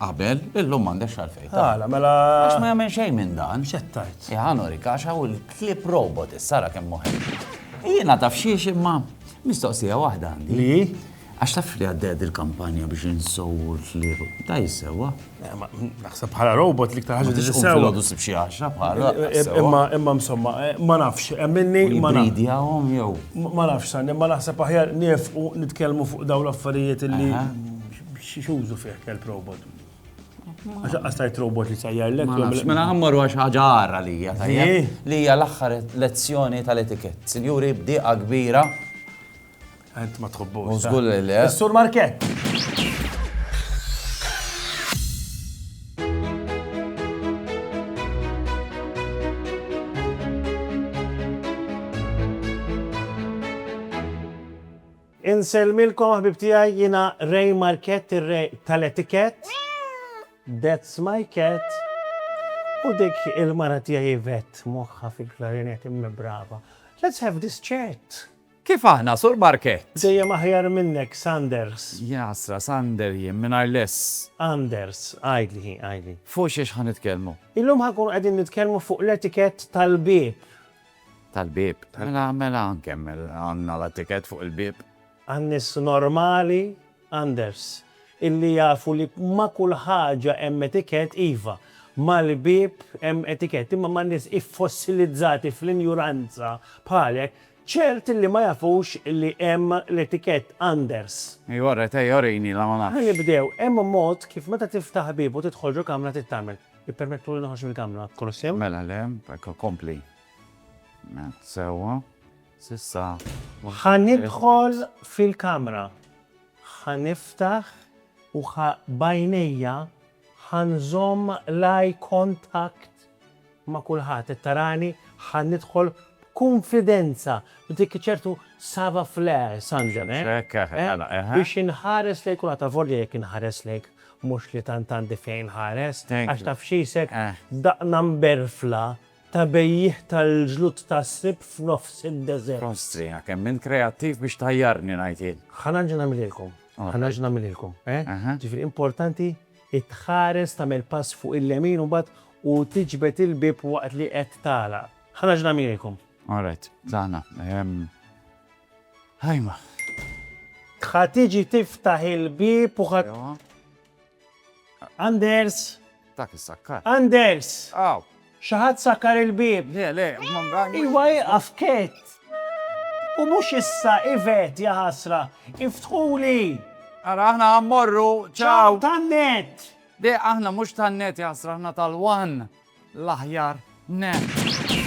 Qabel, illum m'għandekx għalfejn. Għala, mela. Għax ma jagħmel xejn minn dan. Xettajt. Jaħanorik, għax hawn il-klib robot, is-sara kemm moħi. Jiena taf xiex imma mistoqsija waħda għandi. Li? Għax taf li għadded il-kampanja biex insowu l-klib. Ta' jissewa. Eh, naħseb bħala robot li ktar ħaġa li jissewa. Għadu sib xie għaxra bħala. Eh, eh, imma, imma msomma, ma nafx, emminni. Ma nafx. jew. Ma nafx, sanni, ma naħseb aħjar nifqu nitkellmu fuq daw l-affarijiet li X'użu fih kelb robot? Għax aqqas tajt robot li sajjar l Mela ħammaru għax ħaġa għarra li hija Li hija l-aħħar lezzjoni tal-etikett. Sinjuri, bdiqa kbira. Għent ma tħobbu. Użgur li le. Sur Markett. Insellmilkom ħbieb tiegħi jiena Ray Markett ir-Re tal-Etikett That's my cat U dik il-mara tiegħi Yvette moħħha fil-klarinett imma brava Let's have this chat! Kif aħna, Sur Markett? Dejjem aħjar minnek, Sanders! Jaqsra, Sander jien, mingħajr l-ess. Anders, għidli, għidli. Fuq xiex ħa nitkellmu? Illum ħa nkunu qegħdin nitkellmu fuq l-etikett tal-bieb. Tal-bieb. Mela, mela nkemmel, għandna l-attikett fuq il-bieb. Għan-nies normali, Anders, illi jafu li ma' kull ħaġa hemm etikett, iva, mal-bieb hemm etikett, imma man-nies iffossilizzati fl-injuranza bħalek, ċert illi ma jafux li hemm l-etikett, Anders. Ejja, ret, ejja, urini la ma nafx. Ħa nibdew, hemm mod kif meta tiftaħ bieb u tidħol ġo kamra trid tagħmel. Ippermettuli noħroġ mill-kamra, kollox sew? Mela le, hekk ikompli. Mela, sewwa. S'issa ma. Ħa nidħol fil-kamra. Ħa niftaħ u ħa b'għajnejja ħa nżomm l-eye contact ma' kulħadd. Qed tarani? Ħa nidħol b'kunfidenza, b'dik iċ-ċertu savoir-faire, Sandra, eh? Hekk, eh, mela, eħe. Biex inħares lejn kulħadd, avolja jekk inħares lejn Mhux li tant għandi fejn inħares, għax taf x'isek, daqna mberfla ta' bejjiegħ tal-ġlud tas-sib f'nofs id-deżert. Kostrina, kemm int kreattiv biex tgħajjarni, ngħid jien. Ħa nerġa' nagħmililkom, ħa nerġa' nagħmililkom, eh? Ġifieri importanti li tħares tagħmel pass fuq il-lemin u mbagħad u tiġbed il-bieb waqt li qed tagħlaq. Ħa nerġa' nagħmililkom. All right, tlaqna. Ħajma. Ħa tiġi tiftaħ il-bieb u ħa. Anders! Dak is-sakkar. Anders! Aw! Xi ħadd sakkar il-bieb. Le, le, Iva ieqaf kett! U mhux issa, Ivet, ja ħasra! Iftħuli! Ara aħna ħa mmorru, ċaw! Tan-net! Le, aħna mhux tan-net, ja ħasra, aħna tal-one! l-aħjar nett.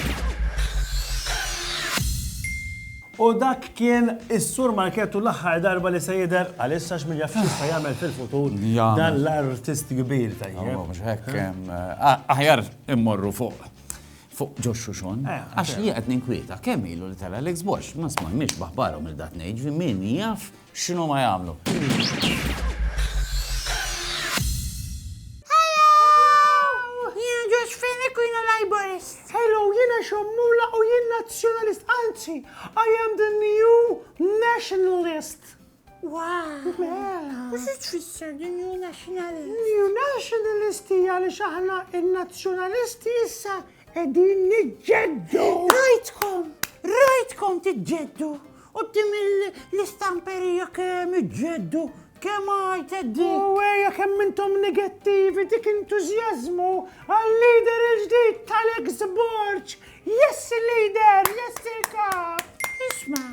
U dak kien is-Sur Markett u l-aħħar darba li se jidher għalissa għax min jaf x'jista' jagħmel fil-futur dan l-artist kbir tajjeb. Mhux hekk hemm. Aħjar immorru fuq fuq ġo xuxon. Għax jien qed ninkwieta kemm ilu li tara l-eks box ma smajniex b'aħbarhom il-dat ngħid min jaf X'inhuma jagħmlu? Hello, jina xommula u jien nazjonalist, anzi, I am the new nationalist. Wow. Mela. What's it tfisser the new nationalist? New nationalist hija li xaħna il-nazzjonalisti issa Qegħdin niġġeddu! Rajtkom, rajtkom tiġġeddu! U tim l-istamperija kemm iġġeddu, kemm għajted di. U għeja kemm intom negattivi dik entużjażmu għal-lider il-ġdid tal-ex borċ. Yes il-lider, yes il-kap. Isma,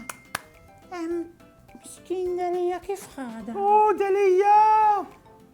miskin Delija kif ħada? U Delija!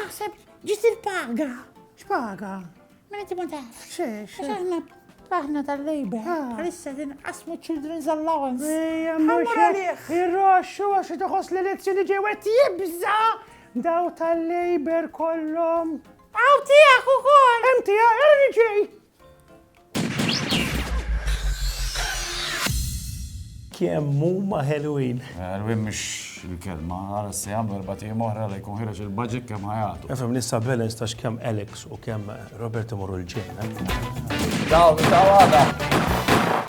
Naħseb ġiet il-paga. X'paga? Mela inti ma tafx. Xiex. Aħna aħna tal-lejbe. Għalissa ah. tinqasmu children's allowance. Ejja, mhux irroxxu għax toħos l-elezzjoni ġewet jibża' daw tal-lejber kollhom. Għaw tiegħek ukoll. Hemm tiegħek, ġej. Kemm huma ħelwin. Ħelwin mhux il-kelma, għara se jagħmlu erba' tim oħra li jkun ħireġ il-budget kemm ħajatu. Efhem nista' balance ta' x'kemm Alex u kemm Robert imorru l-ġejna. Daw, daw għada.